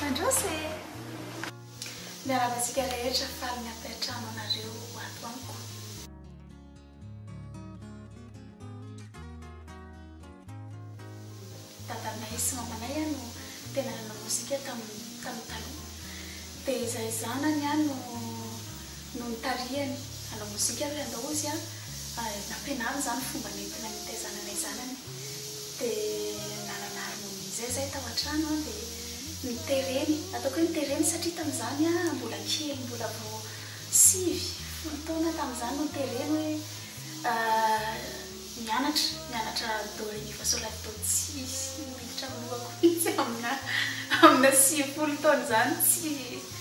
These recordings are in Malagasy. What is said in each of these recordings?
Mandroso e! Miarahaba antsika rehetra faly ny hampiantrano anareo ato amiko. Dadanay sy mamanay no tena nanao mozika tamin'ny taloha dia izahay zanany no no nitarihany hanao mozika ary handao izy an, nampianariny izany fomba nentina nitaizana ilay zanany dia nanana harmonie izay izahay tao an-trano an dia nitereny, ataoko hoe nitereny satria tamin'izany an mbola kely mbola vao sivy, folo taona tamin'izany no nitereny hoe mianatra, mianatra do ré mi fa sol la si do tsy miditra amin'ny lohako mihintsy aminà amina sivifolo taona izany tsy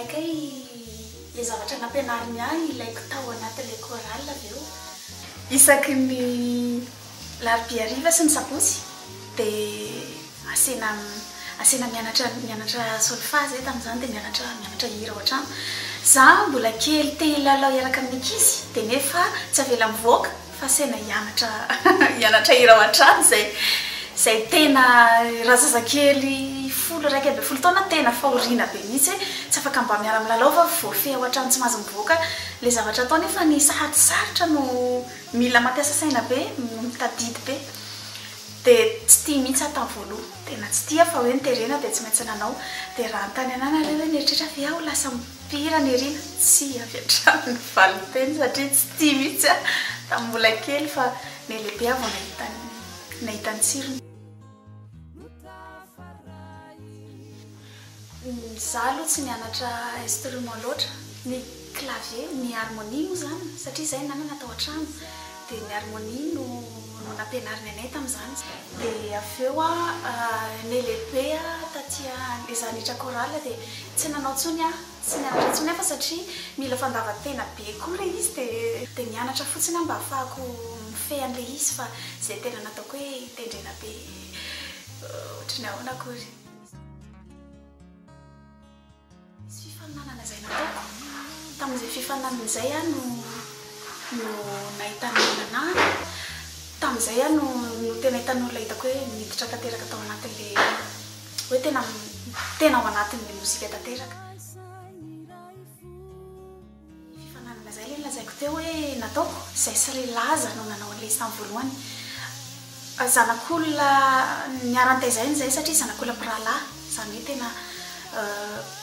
Akay le zavatra nampianariny ahy ilaiko tao anaty le chorale avy eo. Isaky ny larobia hariva sy ny sabotsy de asena asena mianatra mianatra solfa zay tamzany de mianatra mianatra hira ao antrano. Za mbola kely te hilalao hiaraka amin'ny ankizy de nefa tsy avela mivoaka. Fa saina hianatra hianatra hira ao an-trano izay izay tena razazakely folo iraika ambin'ny folo taona tena fahoriana be mihitsy hoe tsy afaka mba miara milalao fa voafehy ao an-trano tsy mahazo mivoaka ilay zavatra atao nefa ny sahady sarotra no mila mampiasa saina be no mitadidy be dia tsy tia mihitsy aho tamin'ny voaloha tena tsy tia fa hoe ny terena dia tsy maintsy nanao dia raha anontany anah nareo hoe nieritreritra ve aho ho lasa Mpihira Nirina, tsy avy hatrany ny valinteny satria tsy tia mihitsy aho tamin'ny mbola kely fa ny lehibe aho vao nahita ny nahita ny tsirony. Izaho aloha tsy nianatra instrument loatra, ny clavier, ny harmonie moa izany satria izahay nanana tao an-trano. Dia ny harmonie no no nampianariny anay tamin'izany. Dia avy eo aho nelehibe taty izany hiditra chorale dia tsy nanao intsony aho, tsy nianatra intsony aho fa satria mila fandavan-tena be koa ilay izy dia dia nianatra fotsiny aho mba hahafahako mifehy an'ilay izy fa tsy dia tena nataoko hoe hitendrena be ohatry ny ahoana akory. Nisy fifaninanana izay nataoko. Tamin'izay fifaninanana izay aho no no nahitana olona nanahy. Tamin'izay aho no no tena hitan'ny olona hitako hoe miditra tanteraka tao anatin'ilay hoe tena tena ao anatin'ilay mozika tanteraka. Efa nanana izay ilay lazaiko teo hoe nataoko, izay sy ry Laza no nanao an'ilay izy tamin'ny voalohany. Zanak'olona niharan-tezaina izay satria zanak'olona mpirahalahy, izany hoe tena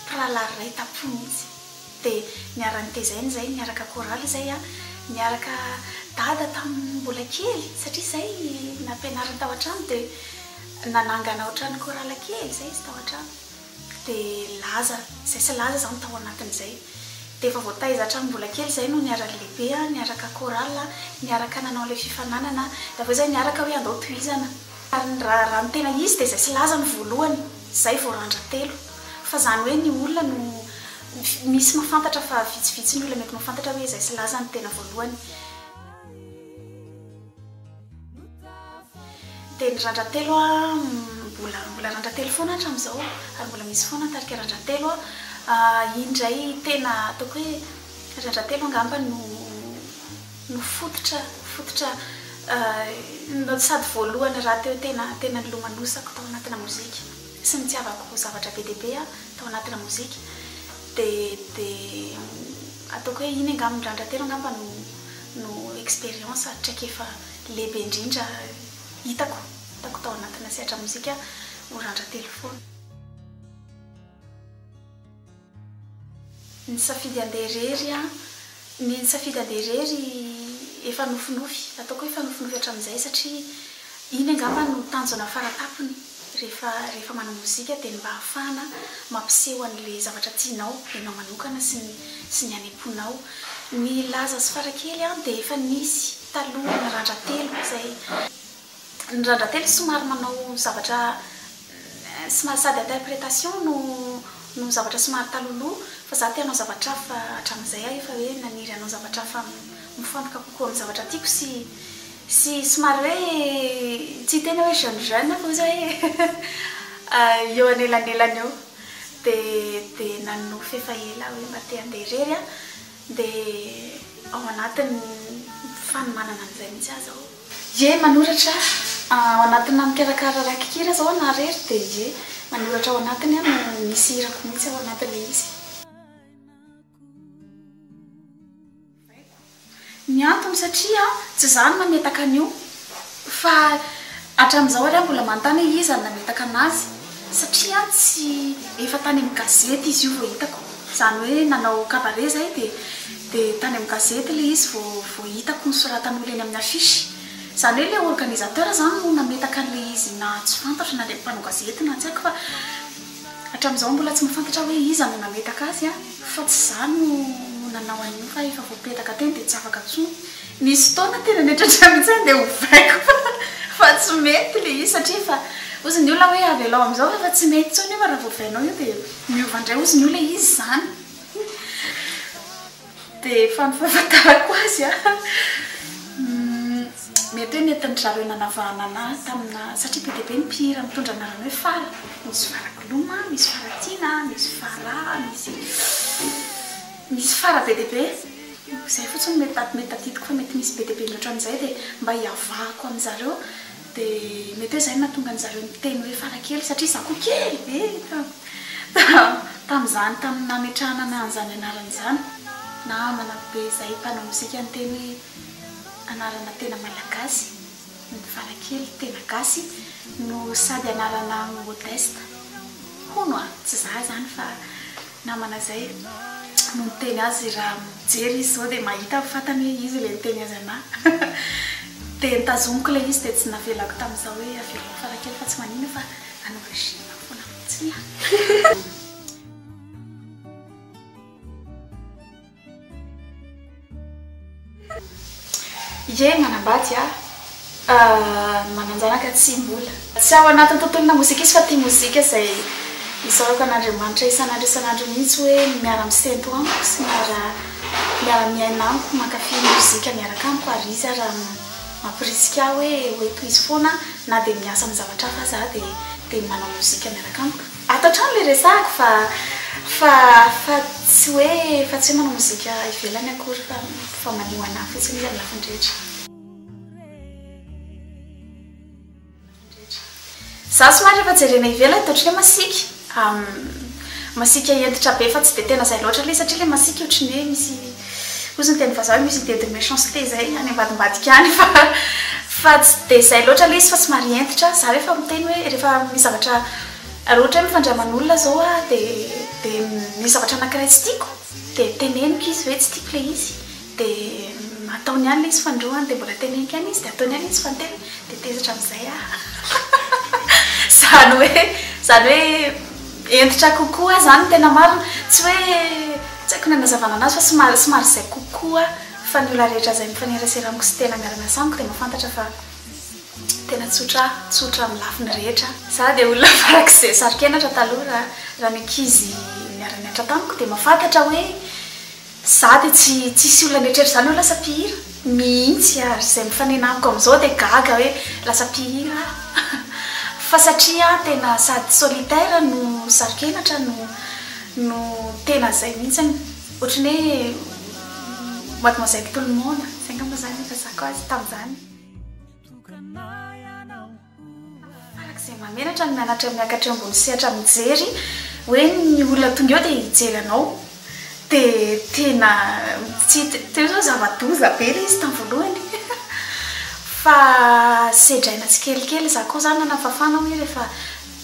mpirahalahy iray tam-po mihitsy. Dia niharan-tezaina izay, niaraka chorale izay aho, niaraka Dada tamin'ny mbola kely satria izay nampianariny tao an-trano dia nanangana ohatran'ny chorale kely izay izy tao an-trano. dia laza izay sy laza izany tao anatin'izay dia efa voataiza hatramin'ny mbola kely izahay no niara-nilehibe, niaraka chorale, niaraka nanao an'ilay fifananana dia avy eo izay niaraka hoe andao tohizana ary ny raha raha ny tena izy dia izay sy laza no voalohany izay vao randra-telo fa izany hoe ny olona no misy mahafantatra fa vitsivitsy ny olona mety mahafantatra hoe izay sy laza no tena voalohany. Dia ny randra-telo a, mbola mbola randra-telo foana hatramin'izao ary mbola misy foana ny tarika randra-telo a. Iny indray tena ataoko hoe randra-telo angamba no no fototra fototra no sady voalohany rahateo tena tena nilomanosako tao anatina mozika sy nitiavako zavatra be dia be aho tao anatina mozika. Dia dia ataoko hoe iny angamba ny randra-telo angamba no. no expérience ary traikefa lehibe indrindra hitako hitako tao anatina sehatra mozika ho randra-telo foana. Nisafidy handeha irery aho, ny nisafidy handeha irery efa nofinofy, ataoko hoe efa nofinofy hatramin'izay satria iny angamba no tanjona fara-tampony. Rehefa rehefa manao mozika dia ny mba hahafahana mampiseho an'ilay zavatra tianao ianao manokana sy ny sy ny any am-ponao. Ny laza sy fara kely an dia efa nisy taloha ny randratelo izay ny randratelo somary manao zavatra somary sady interpretation no no zavatra somary talohaloha fa za te hanao zavatra hafa hatramin'izay aho efa hoe naniry hanao zavatra hafa mifantoka kokoa amin'ny zavatra tiako sy Sy somary hoe tsy tena hoe jeune jeune fa ozy hoe eo anelanelany eo dia dia nanonofy efa ela hoe mba te handeha irery aho dia ao anatin'ny fanomanana an'izay mihitsy aho izao ie manoratra ao anatina mikarakara rakikira izao na irery dia ie manoratra ao anatiny aho no misy hirako mihitsy ao anatin'ilay izy. Haiko ny antony satria tsy izaho no nametaka an'io fa hatramin'izao ary aho mbola manontany hoe iza no nametaka an'azy satria tsy efa tany amin'ny gazety izy io vao hitako izany hoe nanao cabaret izahay dia dia tany amin'ny gazety ilay izy vao vao hitako nosoratan'olona eny amin'ny affiche izany hoe ilay organisateur izany no nametaka an'ilay izy na tsy fantatro na ilay mpanao gazety na tsy haiko fa Hatramin'izao mbola tsy mahafantatra hoe iza no nametaka azy fa tsy za no no nanao an'io fa efa voapetaka teny dia tsy afaka intsony. Nisy fotoana tena niatratra mihitsy aho dia ovaiko fa fa tsy mety le izy satria efa hozy ny olona hoe avelao amin'izao fa efa tsy mety intsony io fa raha vao ovainao io dia miova indray hozy ny olona hoe iza izany. Dia efa ny fahafantarako azy an! Mety hoe nentin-dry zareo nanavahana anà taminà, satria be dia be ny mpihira mitondra anarana hoe Fara. Misy Fara Gloma, misy Fara Tiana, misy Fara, misy misy Fara be dia be. Izay fotsiny no mety mety tadidiko fa mety misy be dia be mihoatra an'izay dia mba hiavahako amin-dry zareo. Dia mety hoe izay no nahatonga an-dry zareo niteny hoe farakely satria izaho koa kely be tamin'izany, tamin'ny nametrahana ana an'izany anarana izany. Namana be izay mpanao mozika niteny hoe anarana tena malagasy ny farakely, tena gasy no sady anarana modeste. Hono a! Tsy izaho izany fa. namana zay no niteny azy raha mijery izy zao dia mahita ny fatany hoe izy ilay niteny azy anà dia nitazomiko ilay izy dia tsy navelako tamin'izaho hoe averina fara kely fa tsy manina fa hanao régime foana fotsiny aho. Ye manambady ah ny mananjanaka tsy mbola. Tsy ao anatin'ny tontolona mozika izy fa tia mozika izay isaorako an'Andriamanitra isan'andro isan'andro mihitsy hoe miara misento amiko sy miara miara miaina amiko mankafy mozika miaraka amiko ary izy ary mampirisika ahy hoe ho tohizo foana na dia miasa amin'ny zavatra hafa aza aho dia dia manao mozika miaraka amiko. Ato hatrany ilay resahako fa fa fa tsy hoe fa tsy hoe manao mozika ivelany akory fa fa maneho ho an'ahy fotsiny izy amin'ny lafiny rehetra. Za somary rehefa jerena ivelany de ohatran'ny hoe masiaka masiaka hentitra be fa tsy de tena zay loatra ilay izy satria ilay masiaka ohatran'ny hoe misy Ozy ny teny vazaha hoe musée de méchanceté zay any ambadimbadika any fa fa tsy dia izay loatra ilay izy fa somary hentitra. Za rehefa miteny hoe rehefa misy zavatra raha ohatra hoe mifandray aman'olona izao aho dia dia misy zavatra anankiray tsy tiako dia teneniko izy hoe tsy tiako ilay izy dia ataony ihany ilay izy fandroany dia mbola teneniko ihany izy dia ataony ihany izy fanteny dia tezitra amin'izay aho. Izany hoe izany hoe. Hentitra kokoa zany ny tena marina. Tsy hoe tsy haiko ny hanazavana anazy fa somary somary zay kokoa fa ny olona rehetra zay mifanerasera amiko sy tena miara miasa amiko dia mahafantatra fa tena tsotra tsotra amin'ny lafiny rehetra. Za dia olona farak'izay saro-kenatra taloha raha raha ny ankizy niara-niantra tamiko dia mahafantatra hoe Za dia tsy tsisy olona mieritreritra izany hoe lasa mpihira mihitsy ary izay mifanena amiko amin'izao dia gaga hoe lasa mpihira aho fa satria aho tena sady solitaire no saro-kenatra no no tena izay mihitsy ohatran'ny hoe mademoiselle tout le monde, izay angamba izany no hifazako azy tamin'izany. Farak'izay mamelatra ny mianatra miakatra eo ambony sehatra mijery hoe ny olona tonga eo dia hijery anao dia tena tsy teo izao zava-doza be ilay izy tamin'ny voalohany fa sedraina tsikelikely, izaho koa izany nanafafana hoe rehefa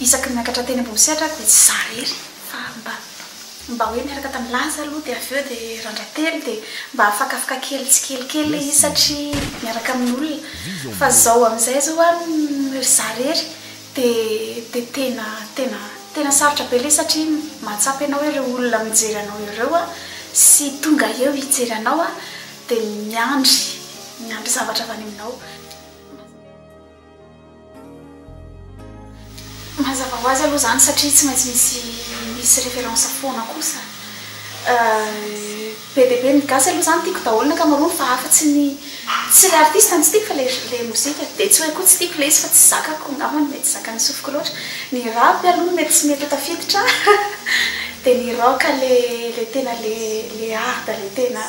isaky ny miakatra teny ambony sehatra aho dia tsy izaho irery fa mba Mba hoe niaraka tamin'i Laza aloha dia avy eo dia Randratelo dia mba afakafaka kely tsikelikely ilay izy satria miaraka amin'olona fa izao amin'izay izao an ry za irery dia dia tena tena tena sarotra be ilay satria mahatsapa ianao ireo olona mijery anao ireo an sy tonga eo hijery anao an dia miandry miandry zavatra avy any aminao. Mazava ho azy aloha izany satria tsy maintsy misy misy référence foana kosa. Be dia be ny gasy aloha izany tiako daholo ny ankamaroany fa afatsy ny tsy ilay artiste no tsy tiako fa ilay ilay mozika. Dia tsy hoe koa tsy tiako ilay izy fa tsy zakako angamba no mety zakan'ny sofiko loatra. Ny rap aloha no mety tsy mety ho tafiditra dia ny rock ilay ilay tena ilay ilay hard ilay tena.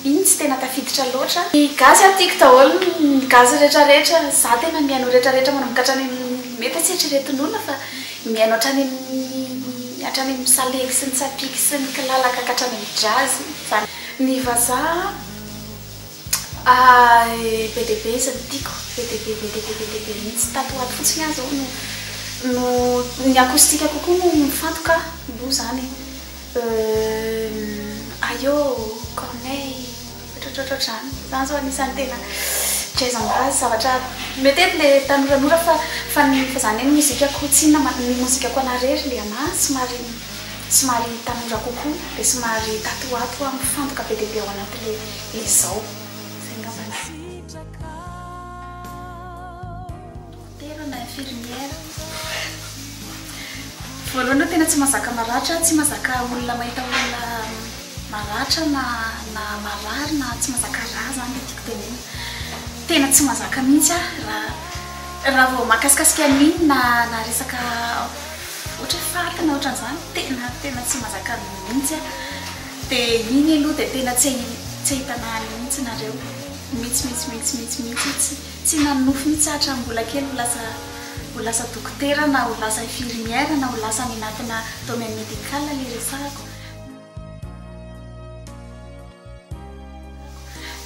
Iny tsy tena tafiditra loatra. Ny gasy a tiko daholo ny gasy rehetra rehetra za tena mihaino ny rehetra rehetra manomboka hatrany amin'ny mety tsy eritreretin'olona fa mihaino hatrany amin'ny hatrany amin'ny salegy sy ny tsapiky sy ny kilalaka ka hatrany amin'ny jazz zany ny vazaha a be dia be izy no tiko be dia be be dia be be dia be mihitsy tato ho ato fotsiny aho zao no no ny acoustique kokoa no mifantoka aloha zany e. Euh aïô Corneille ohatraohatraohatr'izany. Zany zao anisan'ny tena jazz am'base zavatra metety le tanoranora fa fa ny fa zany hoe ny mozikako tsy inona ma ny mozikako anah rery le anah somary somary tanora kokoa de somary tato ho ato aho mifantoka be dia be ao anaty le le zao. Zay ngambany. Dokotera na infirmière. Voalohany aloha tena tsy mazaka maratra, tsy mazaka olona mahita olona maratra na na marary na tsy mazaka rà zany le tiako tenenina. Tena tsy mazaka mihitsy aho raha raha vao mahakasikasika an'iny na na resaka ohatra hoe faty na ohatran'izany tena tena tsy mazaka mihitsy aho. Dia iny aloha dia tena tsy tsy ahitana ahy mihitsy nareo mihitsy mihitsy mihitsy mihitsy mihitsy. Tsy nanonofy mihitsy aho hatramin'ny mbola kely ho lasa ho lasa dokotera na ho lasa infirmière na ho lasa any anatina domaine médical ilay resahako.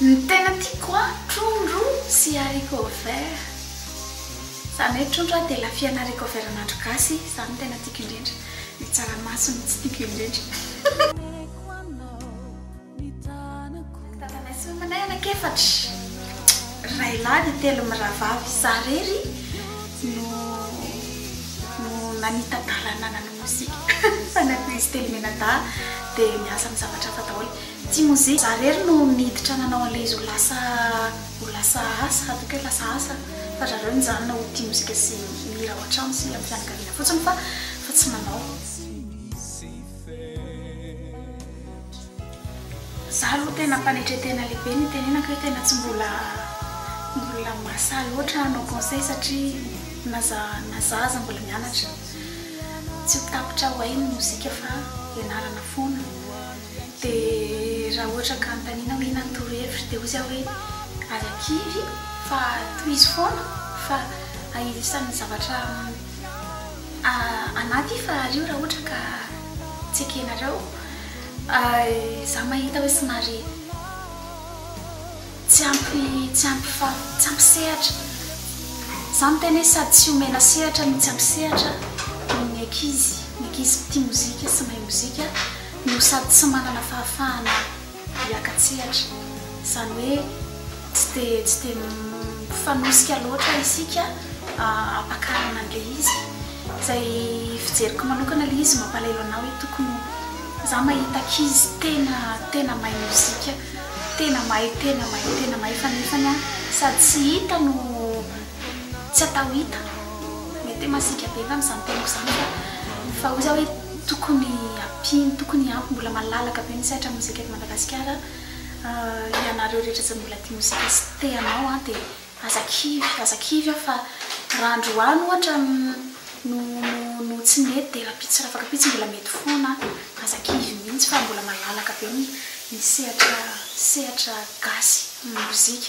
Ny tena tiako an, trondro sy haricots verts. Izany hoe trondro an dia lafiana haricots verts an'andro gasy, izany no tena tiako indrindra. Ny tsaramaso no tsy tiako indrindra. Tananay sy omenay anak'efatra, ray lahy dia telo mirahavavy. Izaho irery no no nanita-dalana nanao mozika. Zanako izy telo mianadahy dia miasa amin'ny zavatra hafa daholo, tsy mozika. Izaho irery no niditra nanao an'ilay izy ho lasa ho lasa asa, hataoko hoe lasa asa, fa ry zareo nijanona ho tia mozika sy mihira ao an-trano sy amin'ny fianakaviana fotsiny fa fa tsy manao. Za aloha tena mpanetre tena lehibe ny itenenako hoe tena tsy mbola mbola mahasahy loatra hanao conseil satria na za na za aza mbola mianatra tsy ho tapitra ho hay ny mozika fa ianarana foana de raha ohatra ka anontaniana hoe inona ny torohevitro de hoy za hoe aza kivy fa tohizo foana fa isan'ny zavatra anaty fahary io raha ohatra ka tsy ekenareo za mahita hoe somary tsy ampy tsy ampy fa tsy ampy sehatra za miteny hoe sady tsy omena sehatra no tsy ampy sehatra ny ankizy ny ankizy tia mozika sy mahay mozika no sady tsy manana fahafahana hiaka-tsehatra, izany hoe tsy dia tsy dia mifanosika loatra isika hampakarana an'ilay izy. Izay fijeriko manokana ilay izy mampalahelo anah hoe tokony ho za mahita ankizy tena tena mahay mozika, tena mahay tena mahay tena mahay fa nefany an sady tsy hita no tsy atao hita, mety hoe masiaka be angamba izany teniko izany fa fa hoy za hoe. Tokony ampiany, tokony ampy mbola malalaka be ny sehatra mozika eto Madagasikara an! ianareo rehetra izay mbola tia mozika sy te hanao an dia aza kivy, aza kivy an fa raha androany ohatra no no tsy nety dia rahampitso sy rafakapitso mbola mety foana an! aza kivy mihitsy fa mbola malalaka be ny ny sehatra sehatra gasy mozika.